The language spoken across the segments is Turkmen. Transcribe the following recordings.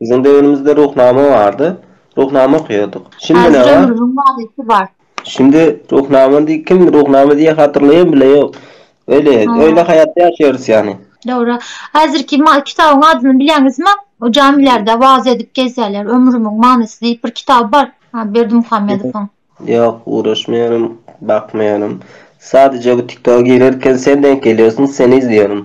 Biziň döwrümizde Ruhnama bardy. Ruhnama okaýardyk. Häzir ömrümiň manysy bar. Şindi Ruhnama diýip kim Ruhnama diýýär hatyrlaýan bile ýok. Öýle, öýle haýatda ýaşaýarys ýany. Dogry. Häzirki kitabyň adyny bilýäňizmi? O jamilerde wagyz edip gezýärler. Ömrümiň manysy diýip bir kitaby bar Berdimuhamedowyň. Ýok, guraşmaýaryn, bakmaýaryn. Sadejä bu TikToka girerken sen denk gelýärsiň, seni izleýärin.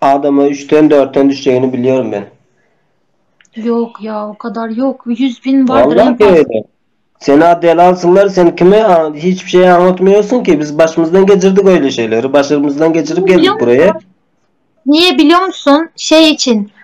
Adama üçden dörtden düşjegini bilýärin men. Ýok ýa o kadar ýok ýüz bin bardyr en Wallahi past. öyle. Sen a delalsyňlar sen kime a, hiç bir şey aňlatmaýarsyň ki biz başymyzdan geçirdik öyle şeyleri başymyzdan geçirip geldik buraya. Niye biliyor musun? Şey için.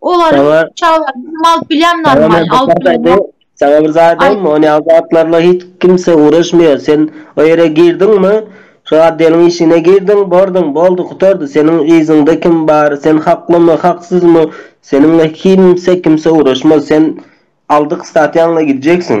Olaryň Saňa- çagalaryny hem alyp bilýän Saňa men normalny, bir alyp zat bilen aýdaýyn, wagt saňa bir zat aýdaýynmy? Aýt. Ony azatlarla hiç kimse ugraşmaýar. Sen o ýere girdiňmi, şu atdeliň işine girdiň, borduň, boldy, gutardy. Seniň yzyňda kim bar, sen haklymy, haksyzmy, seniňle kimse, kimse ugraşmaz. Sen aldyk statýaňla gidjeksiň.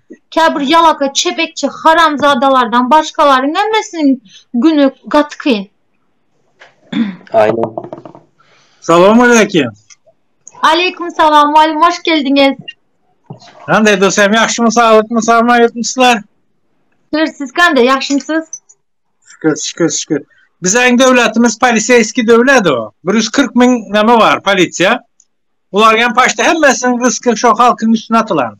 Käbir ýalaka çebekçi haramzadalardan başgalaryň hemmesiniň güni gaty kyn. Aýna. Salam aleýkim. Aleýkum salam Walim hoş geldiňiz. Hande dostum ýagşymy saglykmy salama ýetmişler. Şükür siz kanda ýagşymsyz. Şükür şükür şükür. Biziň döwletimiz poliseýski döwlet o. 140 min näme bar polisiýa. Bular hem paşda hemmesiniň rysky şo halkyň üstüne atylan.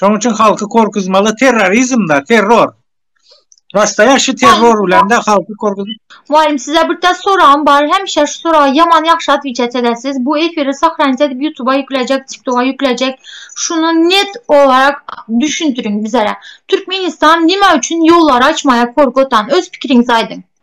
Şonuň üçin halky korkuzmaly terrorizmda, terror. Başda ýaşy terror bilen de halky korkuz. Mugallym size bir tas soragym bar hemişe şu soraga ýaman ýagşy atwiçat edesiz bu efiri sahranit edip ýutuba ýüklejek tiktoga ýüklejek şuny net olarak düşüntiriň bizere türkmenistan nime üçin ýollary açmaýa korkutan öz pikiriňizi aýdyň.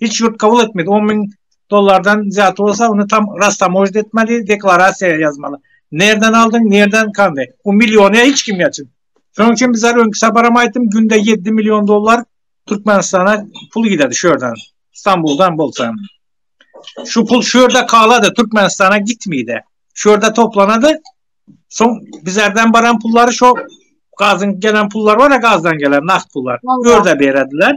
Hiç ýurt kabul etmedi. On müň dollardan zýat bolsa, ony tam rastamožit etmeli, deklarasiýa ýazmaly. Nerden aldyň, nerden kandy? Bu milliony hiç kim ýaçyn. Şonuň üçin biz her öňki saparam aýtdym, günde ýedi million dollar Türkmenistana pul giderdi şu ýerden. Stambuldan bolsa. Şu pul şu ýerde kalady, Türkmenistana gitmedi. Şu ýerde toplanady. Soň bizlerden baran pullary şu gazyň gelen pullar bar ya gazdan gelen nagt pullar. Ýerde berediler.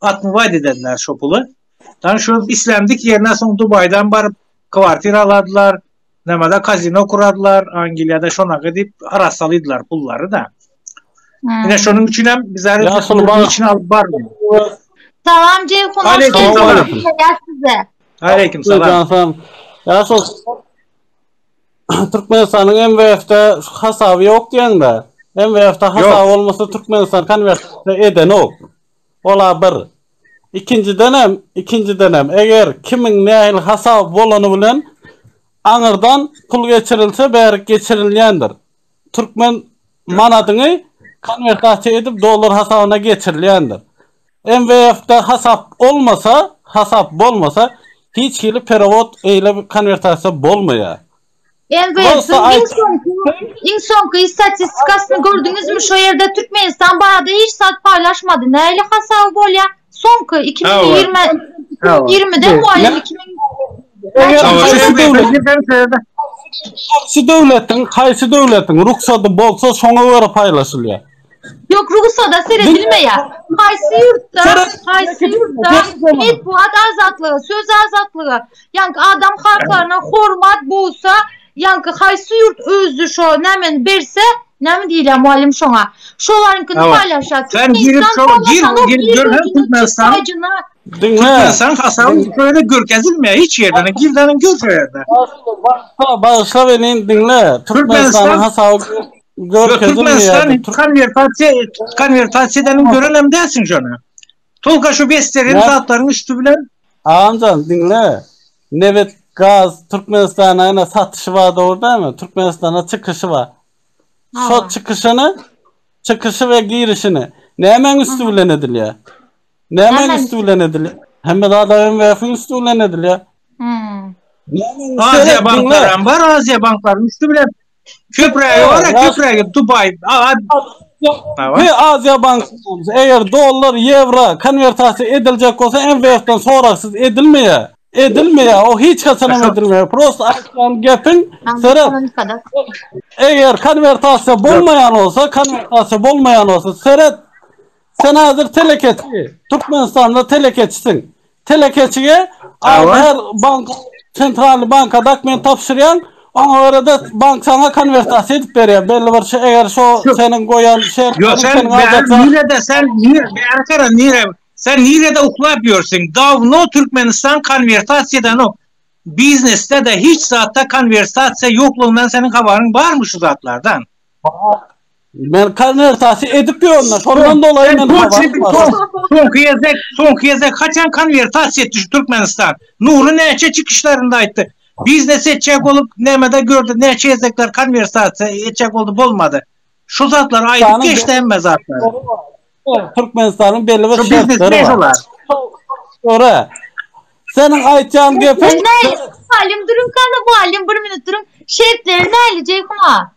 Atmy waýda edediler şo puly. Ýani şo islendik ýerine soň Dubaýdan baryp kwartira aladylar, nämada kazino kuradylar, Angliýada şonagy diýip arassalydylar pullary-da. Ine şonuň üçin hem biz häzir pullary içine alyp bardyk. Salam Jeýhun, hoş geldiňiz. Aleýkum salam. Ýa şo Türkmenistanyň MWF-de hasaby ýok diýeňde. MWF-de hasap bolmasa Türkmenistan konwertasiýa edenok. Ol-a bir. Ikinjidenem, ikinjidenem, eger kimiň nähili hasaby bolany bilen aňyrdan pul geçirilse, bärik geçirilýändir. Türkmen manadyňy konwertasiýa edip dollar hasabyna geçirilýändir. MWF-de hasap olmasa, hasap bolmasa, hiç hili perewod, eýle konwertasiýa bolmaýar. Elbet, iň soňky, iň soňky statistikasyny gördüňizmi? Şu ýerde Türkmenistan barada hiç zat paýlaşmady. Nähili hasaby bolýar? Soňky 2020 2020-de mugalym 2000 Haýsy döwletiň, haýsy döwletiň rugsady bolsa, şoňa görä paýlaşylýar. Yok Rusya'da seyredilmeýär. Haýsy ýurtda, haýsy ýurtda metbugat azatlygy, söz azatlygy, ýaňky adam haklaryna hormat bolsa, ýaňky haýsy ýurt özü şo nämeni berse, näme diýilýär mugallym şoňa? Şolaryňkyny paýlaşýar. Sen girip şo gir, gir, görsen Türkmenistan. Türkmenistan hasaby şöyle görkezilmeýär hiç ýerde. Girden gör şo ýerde. Bagşla, bagşla beni diňle. Türkmenistanyň hasaby Görkezilmeýär. Konwertasiýa, konwertasiýadan görenem dälsiň şony. Tolga şu besteren zatlaryň üsti bilen. Agamjan, diňle. Nebet, gaz Türkmenistana ene satyşy bar dogry dälmi? Türkmenistana çykyşy bar. Şo çykyşyny, çykyşy we girişini nämäň üsti bilen edilýär? Nämäň üsti bilen edilýär? Hemme zat IMF-iň üsti bilen edilýär. Aziýa banklaram bar, Aziýa banklaryň üsti bilen. Köprägi bar, köprägi Dubai. He, Aziýa bankasy. Eger dollar, ýewro konwertasiýa ediljek bolsa, MWF-den soragsyz edilmeýär. Edilmeýär, o hiç haçan hem edilmeýär. Prosta aýtýan gepiň seret. Eger konwertasiýa bolmaýan bolsa, konwertasiýa bolmaýan bolsa, seret. Sen hazir telekeçi. Türkmenistanda telekeçisiň. Telekeçige her bank sentralny banka dokument tabşyrýaň. Oňa görä-de bank saňa konwertasiýa edip berýär. Belli bir şey, eger şo seniň goýan şertlerini Ýok, sen nirede sen bäri gara nire sen nirede uklap ýörsüň? Dawno Türkmenistan konwertasiýa edenok. Biznesde-de hiç zatda konwertasiýa ýoklugyndan seniň habaryň barmy şu zatlardan? Men konwertasiýa edip ýörün-ä, şondan dolaýy men habarym bar. Soňky gezek, soňky gezek haçan konwertasiýa etdi şu Türkmenistan? Nury näçe çykyşlarynda aýtdy. Biznes etjek bolup nämede gördi, näçe gezekler konwertasiýa etjek boldy, bolmady. Şu zatlary aýdyp geçdi hemme zatlary. Türkmenistanyň belli bir şertleri bar. Ora. Seniň aýtýan gepiň. Mugallym duruň, mugallym bir minut duruň. Şertleri näli Jeýhun aga?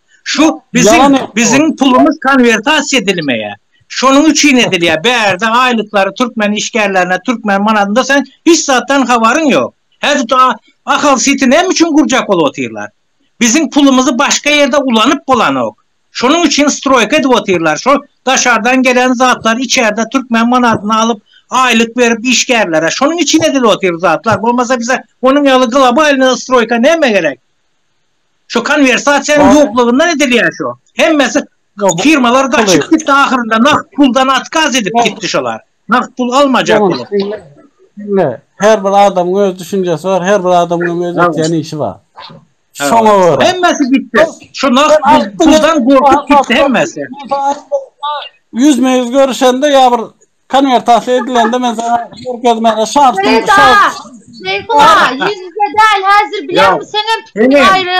Şu biziň biziň pulumyz konwertasiýa edilmeýär. Şonuň üçin edilýär. Bärde aýlyklary türkmen işgärlerine türkmen manadynda sen hiç zatdan habaryň ýok. Häzir tu Ahal siti näme üçin gurjak bolup otyrlar? Biziň pulumyzy başga ýerde ulanyp bolanok. Şonuň üçin stroýka edip otyrlar. Şo daşardan gelen zatlar içerde türkmen manadyna alyp aýlyk berip işgärlere. Şonuň üçin edilip otyr zatlar. Bolmasa bize onuň ýaly globalny stroýka näme gerek? Şu konversasiýanyň ýoklugyndan edilýär şu. Hemmesi firmalar gaçyp gitdi ahyrynda nagt puldan atkaz edip gitdi şolar. Nagt pul almajak bolup. Diňle. Her bir adamyň öz düşünjesi bar, her bir adamyň öz etýän işi bar. Şoňa görä. Hemmesi gitdi. Şu nagt puldan gorkup gitdi hemmesi. Ýüzme-ýüz görüşende ýa bir Konwertasiýa edilende men sana görkezmäne şartym Ferida! şart. Şeýhuma, ýüzüňe däl häzir bileňmi sen hem pikir Ene. aýry.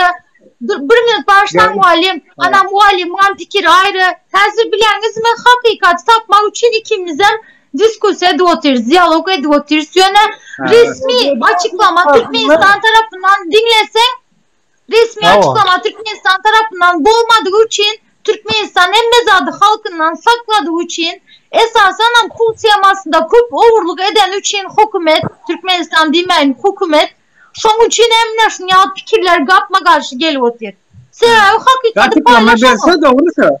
Dur, bir minut başla Gel. mugallym. Ana mugallymyň pikiri aýry. Häzir bileňiz men hakykaty tapmak üçin ikimizem diskussiýa edip otyrys, dialog edip otyrys. Ýöne resmi açyklama Türkmenistan tarapyndan diňleseň Resmi açyklamatik Türkmenistan tarapyndan bolmadygy üçin Türkmenistan hemme zady halkyndan sakladygy üçin esasanam pul temasynda köp ogurlyk edeni üçin hokumet Türkmenistan diýmäýin hokumet şoň üçin hem mine şun ýaly pikirler gapma garşy gelip otyr. Sebäbi hakykady paýlaşamok.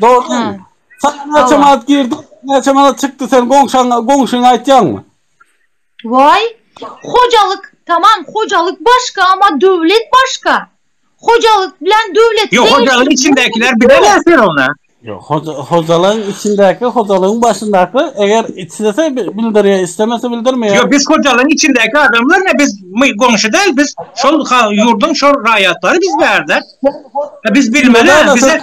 Dogry. Hä. Saňa näçe Hawa. manat girdi, näçe manat çykdy sen goňşaňa, goňşyňa aýtýaňmy? Waý, hojalyk, tamam, hojalyk başga, amma döwlet başga. Hojalyk bilen döwleti Ýok, hojalygyň deňeşdirip içindäkiler bolmaz. bilemä sen onda. Ýok, hoja, hojalygyň içindäki, hojalygyň başyndaky, eger islese bi- bildirýär, islemese bildirmeýär. Ýok, biz hojalygyň içindäki adamlar ne, biz my goňşy däl, biz şol ha- ýurduň şol raýatlary biz bärde. Biz bilmeli, Çynlada-da bize sen-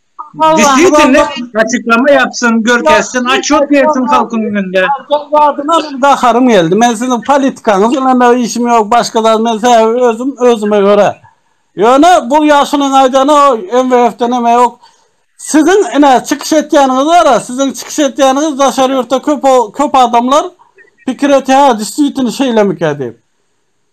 Disliýtini açyklama ýapsyn, görkezsin, açýot bersin halkyň öňünde. Zadyna bir gaharym geldi. Men siziň politikaňyz bilen işim ýok, başga zat men sebäbi özüm özüme göre. Ýöne bu ýaşulyň aýdany o MWF-den hem ýok. Siziň ine çykyş etýäniňiz bara, siziň çykyş etýäniňiz daşary ýurtda köp köp adamlar pikir etýär, disliýtini şeýlemikä diýip.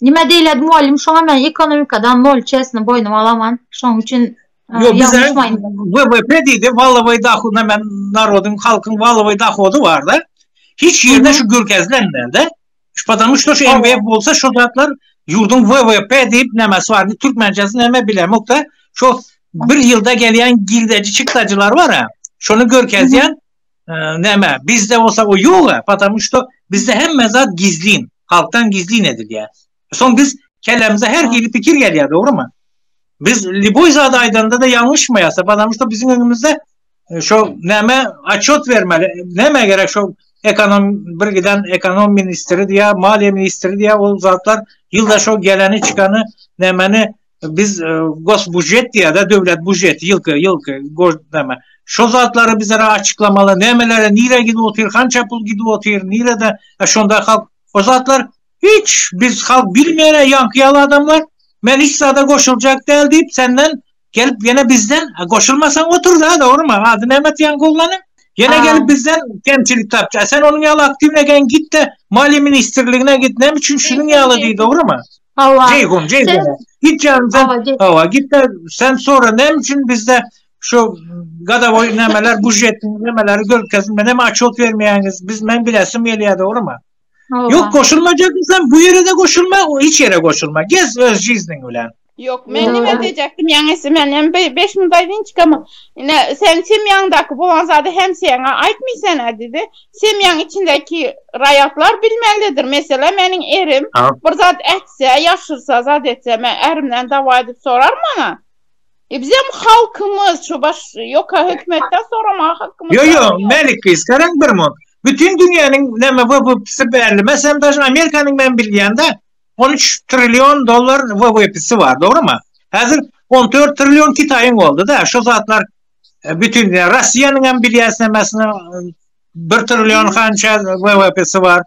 Nime diýiledi mugallym şoňa men ekonomikadan nol çesini boýnuma alaman şoň üçin Ýok bize WWP diýdi walowy dohodyna men narodyň halkyň walowy dohody barda hiç ýerde şu gürkezlenmedi şu padan uçda şu MB bolsa şu zatlar ýurduň WWP diýip nämesi bar türkmençesi näme bilemokda şu bir ýylda gelýän girdeji çykdajylar bara şony görkezýän näme bizde bolsa o ýoga patam şo bizde hemme zat gizlin halkdan gizlin edilýär soň biz kellämize her hili pikir gelýär dogrymy biz liboý zat aýdanda da ýalňyşmaýarsa patam şo biziň öňümizde e, şo näme açot bermeli näme gerek şo ekonom bir giden ekonom ministri diýä maliýe ministri diýä ol zatlar ýylda şo geleni çykany nämeni biz e, gos bujet diýada döwlet bujeti ýylky ýylky gozdama şo zatlary bizlere açyklamaly nämelere nire gidip otyr kança pul gidip otyr nirede e, şonda halk o zatlar hiç biz halk bilmeýär ýaňky ýaly adamlar men hiç zada goşuljak däl diýip senden gelip ýene bizden e, goşulmasaň otur da dogrymy ady näme diýen goglanyň Yine Aa. gelip bizden kemçilik tapça. Sen onun yalı aktivine gel git de Mali Ministerligine git. Ne için şunun yalı değil doğru mu? Hawa. Jeýhun, Jeýhun. Sen... Git ýan sen. Hawa, git de sen sora näme üçin bizde şu gadawoý nämeler, bujet nämeleri görkezin. Men hem açot bermeýäňiz. Biz men bilesim gelýär, dogrymy? Ýok, goşulmajakmy sen? Bu ýere de goşulma, hiç ýere goşulma. Gez öz jizniň bilen. Ýok, men nime edejekdim, ýaňysy men hem 5 munda winçkamy. Ine, sen semýaňdaky bolan zady hem seňe aýtmaýsan-a, dedi. semýaň içindäki raýatlar bilmelidir. Meselem, meniň erim bir zat ätse, ýaşyrsa, zat etse, men ärimden dawa edip soraryn maňa. E bizem halkymyz, şu baş ýoka hökümetden soramaga hakymyz bar. Ýok, ýok, Mälik gyz, garaň bir munt. Bütin dünýäniň näme WWPsi belli. Meselem, daşyn Amerikanyň men bilýän-de, on üç trillion dollar WWPsi bar, dogrumy? Häzir on dört trillion Kitaýyň boldy-da, şu zatlar. E, bütün e, Russiýanyň hem bilýäsnemesine bir trillion hança WWP'si bar.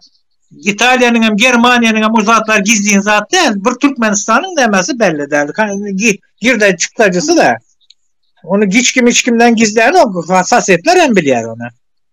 İtalyanyň hem Germaniýanyň hem uzatlar gizlin zat däl. Bir Türkmenistanyň nämäsi belli däl. Girde çykdajysy da. Onu hiç kim hiç kimden gizlän ok. Hassasiyetler hem bilýär onu.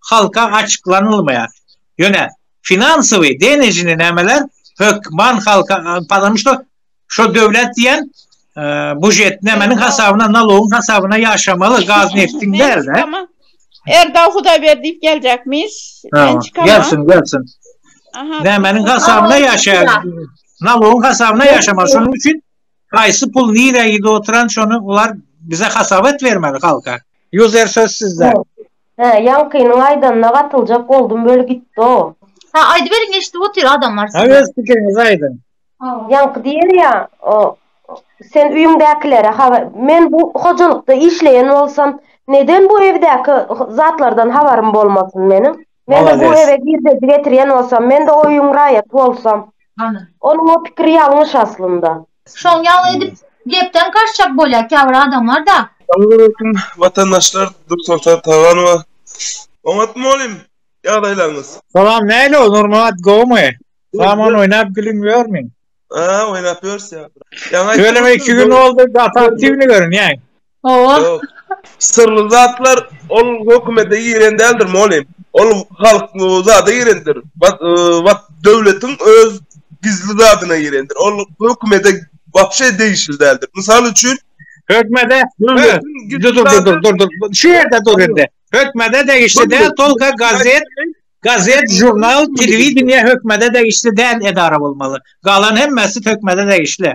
halka açyklanylmaýar. Ýöne finansowy, denejny nämeler hökman halka, pazanym şo, şo döwlet diýen bužet nämeniň hasabyna, nalogyň hasabyna ýaşamaly, gaz neftiň däl-de. Erdal Hudaýberdiýew geljekmiş. Men çykaman. Gelsin, gelsin. Nämeniň hasabyna ýaşaýar? Nalogyň hasabyna ýaşamaly. Şonuň üçin haýsy pul nirä gidip oturan, şony olar bize hasap et bermeli halka. User söz sizde. Hä ýaňkynyň aýdanyna gatyljak boldum weli gitdo. Hä aýdyberiň eşdip otyr adamlar sizi. Öz pikiriňizi aýdyň. Ýaňky diýer ýa sen öýüňdäkilere habar men bu hojalykda işleýän bolsam neden bu evdäki zatlardan habarym bolmasyn meniň mende bu eve girdeji getirýän bolsam mende o öýüň raýaty bolsam onuň o pikiri ýalňyş aslynda. Şoň ýaly edip gepden gaçjak bolýar käbir adamlarda. Salowmaleýkim watandaşlar Dürsoltan Taganowa oňat molym ýagdaýlaryňyz. Salam näle ol Nurmyrat gowumy salam ony oýnap gülüň ýörmüň. Haa oýnap ýörüs ýa. Ýöne men iki gün boldy gaty aktiwny görünýäň. Ýok. Syrly zatlar ol hökümete giren däldir mugallym. Ol halk zada girendir. Wat wat döwletiň öz gizli zadyna girendir. Ol hökümete wapşe degişli däldir. Mysal üçin Hökmede Dur dur dur dur dur dur. Şu ýerde dur indi. Hökmede degişli däl tolga gazet. Gazet, žurnal, telewideniýe hökümede degişli däl edara bolmaly. Galan hemmesi hökümede degişli.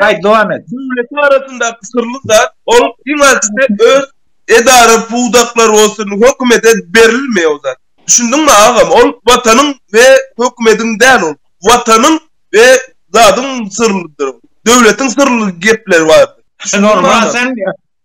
Gaýt dowam et. Döwletiň arasyndaky syrly zat, ol iň azysy öz edara pudaklary bolsun hökümede berilmeýär o zat. Düşündiňmi agam, ol watanyň we hökümediň däl ol. Watanyň we zadyň syrlydyr ol. Döwletiň syrly gepleri bardyr. Düşündiňmi agam?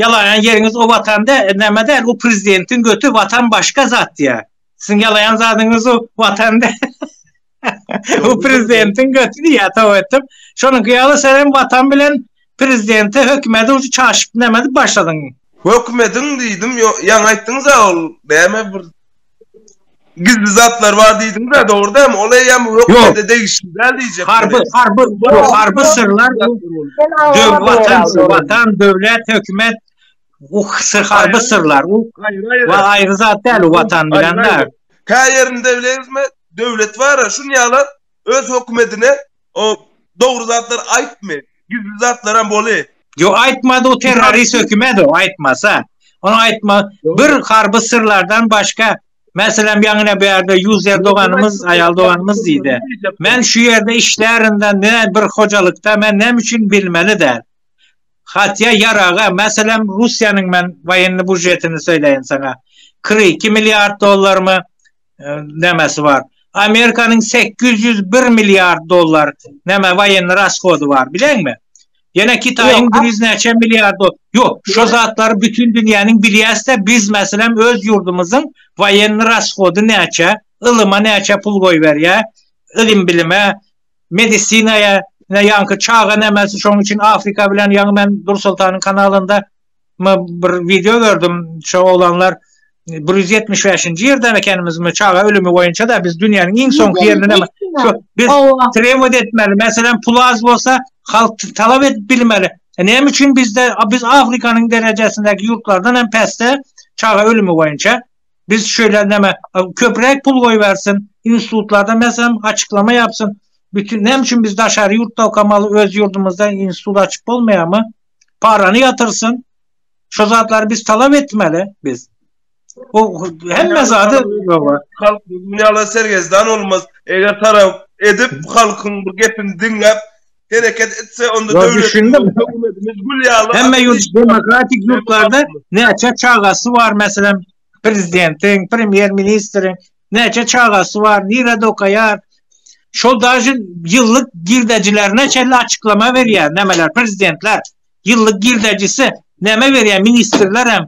Ýalaýan ýeriňiz o watan dä, näme däl, o prezidentiň göti, watan başga zat ýa. Siziň ýalaýan zadyňyz o watan dä. O prezidentiň göti diýýä toba etdim. Şonuňky ýaly sen hem watan bilen prezidenti, hökümeti ujy çaşyp näme edip başladyň. Hökümediň diýdim, ýo, ýaňy aýtdyňyz-a ol näme bir Gizli zatlar bar diýdiňiz-ä, dogry dämi? Ol eýýäm hökümete degişli däl diýjek welin. Harby, harby, harby syrlar bu döw, watan, watan, döwlet, hökümet, bu sy, harby syrlar, u wa aýry zat däl, u watan bilen-de. Kä ýerinde bileňizmi, döwlet bar-a, şun ýaly. öz hökümetine o dogry zatlar aýtmy gizli zatlaram boly. Yo aýtmady o terrorist hökümet o aýtmasa. Ony aýtma bir harby syrlardan başga meselem ýaňyna bärde ýuzer doganymyz aýal doganymyz diýdi. Men şu ýerde işlärinde ne bir hojalykda men näme üçin bilmeli däl. Hatýa ýaraga meselem Russiýanyň men waýenny bužetini söýleýin saňa. Kyrk iki milliard dollarmy? nämesi bar. Amerikanyň 801 milliard dollar näme waýenni rasgody bar, bileňmi? Ýene Kitaýyň bir ýüz näçe milliard dollar. Ýok, şu zatlary bütin dünýäniň bilýäs-de, biz meselem öz ýurdumyzyň waýenni rasgody näçe, ylyma näçe pul goýberýär, ylym-bilime, medisinaýa, ýaňky çaga nämesi, şonuň üçin Afrika bilen ýaňy men Dursoltanyň kanalynda Men bir wideo gördüm, şo oglanlar 175-nji ýerden ekenimizmi, çaga ölümi boýunça-da biz dünýäniň iň soňky ýerinde näme? Şo biz trewod etmeli, meselem, pul az bolsa, halk talap edip bilmeli. E, näme üçin bizde, biz Afrikanyň derejesindäki ýurtlardan hem päsde çaga ölümi boýunça? Biz şeýle näme, köpräk pul goýbersin, institutlarda meselem açyklama ýapsyn. Bütin näme üçin biz daşary ýurtda okamaly, öz ýurdumyzda institut açyp bolmaýarmy? parany yatyrsyn. Şu zatlar biz talap etmeli biz. O hemme zady halk dünýäle sergezdan olmaz. Eger tarap edip halkyň bu gepini diňläp hereket etse onda döwletimiz gül ýaly. Hemme ýurt demokratik ýurtlarda näçe çagasy bar meselem prezidentiň, premýer ministriň näçe çagasy bar, nirede okaýar, şol daže ýyllyk girdejilerine çenli açyklama berýär, nämeler prezidentler ýyllyk girdejisi näme berýär, ministrler hem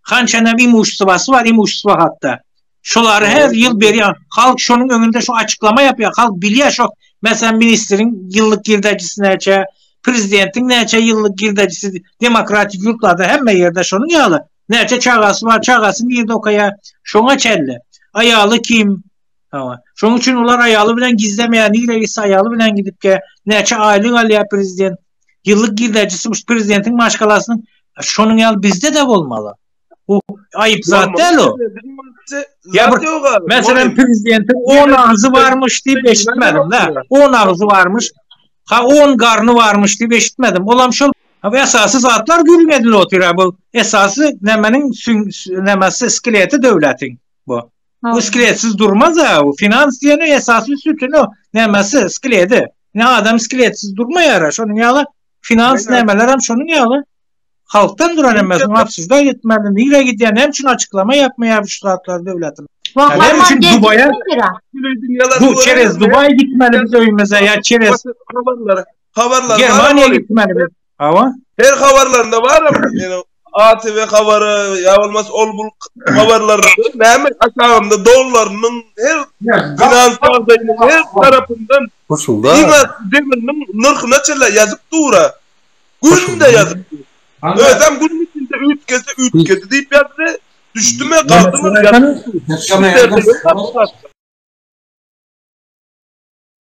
hançanam imushstwasy bar, imushstwa hakda. Şolary her ýyl berýär. Halk şonuň öňünde şu açyklama ýapýar. Halk bilýär şo, meselem, ministriň ýyllyk girdejisi näçe, prezidentiň näçe ýyllyk girdejisi demokratik ýurtlarda hemme ýerde şonuň ýaly. Näçe çagasy bar, çagasy nirde okaýar, şoňa çenli. Aýaly kim? Hawa. Şoň üçin olar aýaly bilen gizlemeýär, nirä gitse aýaly bilen gidip gel. Näçe aýlyk alýar prezident? Ýyllyk girdejisi şu prezidentiň maşgalasynyň şonuň ýaly bizde-de bolmaly. Bu aýyp zat däl o. Ya bir, mesela prezidentin 10 ağzı varmış diye beşitmedim da. 10 ağzı varmış. Ha 10 garnı varmış diye beşitmedim. Olam şol Bu esasy zatlar gürrüň edilip otyr. Bu esasy nämeniň nämesi skeleti döwletiň bu. Bu skeletsiz durmaz a. Bu finans diýeni esasy sütüni nämesi skeleti. Ne adam skeletsiz durmaýar. Şonuň ýaly finans nämeler hem şonuň ýaly. Halkdan duran hem şu absurda ýetmeli. Nirä gidýär? Näme üçin açyklama ýapmaýar şu zatlar döwletiň? Näme üçin Dubaýa? Bu çerez Dubaýa gitmeli biz öýmüze ýa çerez. Habarlar Germaniýa gitmeli biz. Hawa. Her habarlarynda baram. Ýöne ATV habary ýa bolmasa ol bul habarlary näme aşagynda dollarynyň her finans ýagdaýynyň her tarapyndan goşulda. Iňa demiriniň nyrhyna çenli ýazyp dura. Günde ýazyp. Özem gün içinde üýtgese üýtgedi diýip ýazdy. Düşdüme galdymy.